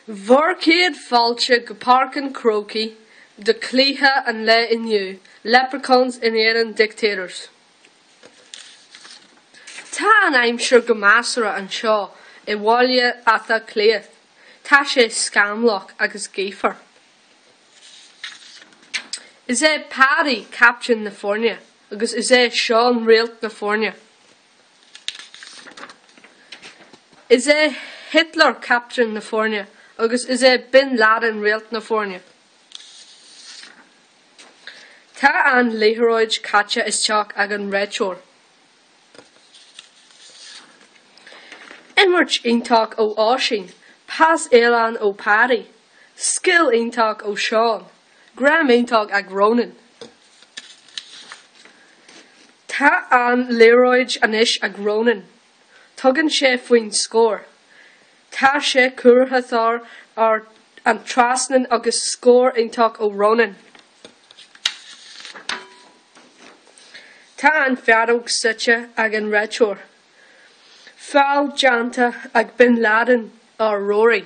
Bhur chéad fáilte go Páirc an Chrócaigh do chluiche an lae inniu, Leprechauns in éadan Dictators. Tá an aimsir go measartha anseo i mBaile Átha Cliath, tá sé scamallach agus gaofar. Is é Paddy captaen na foirne agus is é Seán réalt na foirne. Is é Hitler captaen na foirne agus is é Bin Laden réalt na foirne. Tá an liathróid caite isteach ag an réiteoir. Imirt iontach ó Oisín, pas álainn ó Paddy, scil iontach ó Seán. Greim iontach ag Ronan. Tá an liathróid anois ag Ronan. Tugann sé faoin scór. Tá sé curtha thar an trasnán agus scór iontach ó Ronan. Tá an feadóg séidte ag an réiteoir. Feall deánta ag Bin Laden ar Rory.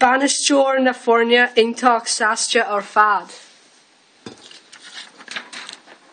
bainisteoir na foirne iontach sásta ar fad.